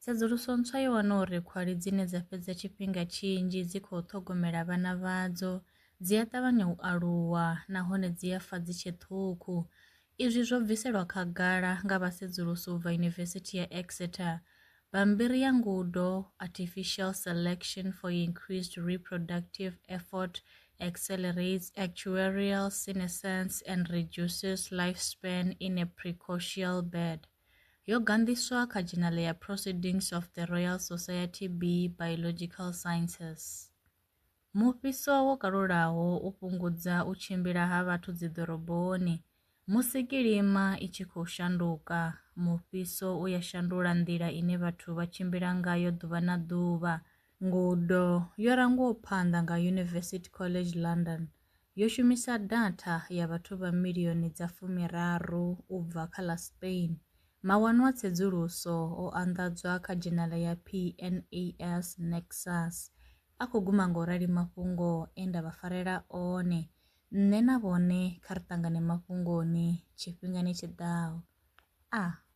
Tsedzuluso ntswa yo wana uri khwali dzine dza fhedza tshifhinga tshinzhi dzi khou ṱhogomela vhana vhadzo dzi a ṱavhanya u aluwa nahone dzi a fa dzi tshe ṱhukhu. Izwi zwo bviselwa khagala nga vhasedzulusi u bva Yunivesithi ya Exeter. Bammbiri ya ngudo Artificial Selection for Increased Reproductive Effort Accelerates Actuarial Senescence and Reduces Lifespan in a Precocial Bird. Yo ganḓiswa kha dzhenale ya Proceedings of the Royal Society B Biological Sciences. Mufhiso wo kalulaho u fhungudza u tshimbila ha vhathu dziḓoroboni. Musi kilima i tshi khou shanduka, mufhiso u ya shandula nḓila ine vhathu vha tshimbila ngayo ḓuvha na ḓuvha. Ngudo yo rangwaho phanḓa nga University College London. yo shumisa datha ya vhathu vha milioni dza fumiraru u bva kha ḽa Spain. Mawanwa a tsedzuluso o anḓadzwa kha dzhenala ya PNAS Nexus a khou guma nga u rali mafhungo e nda vha farela one nṋe na vhone kha ri ṱangane mafhungoni tshifhingani tshi ḓaho. A.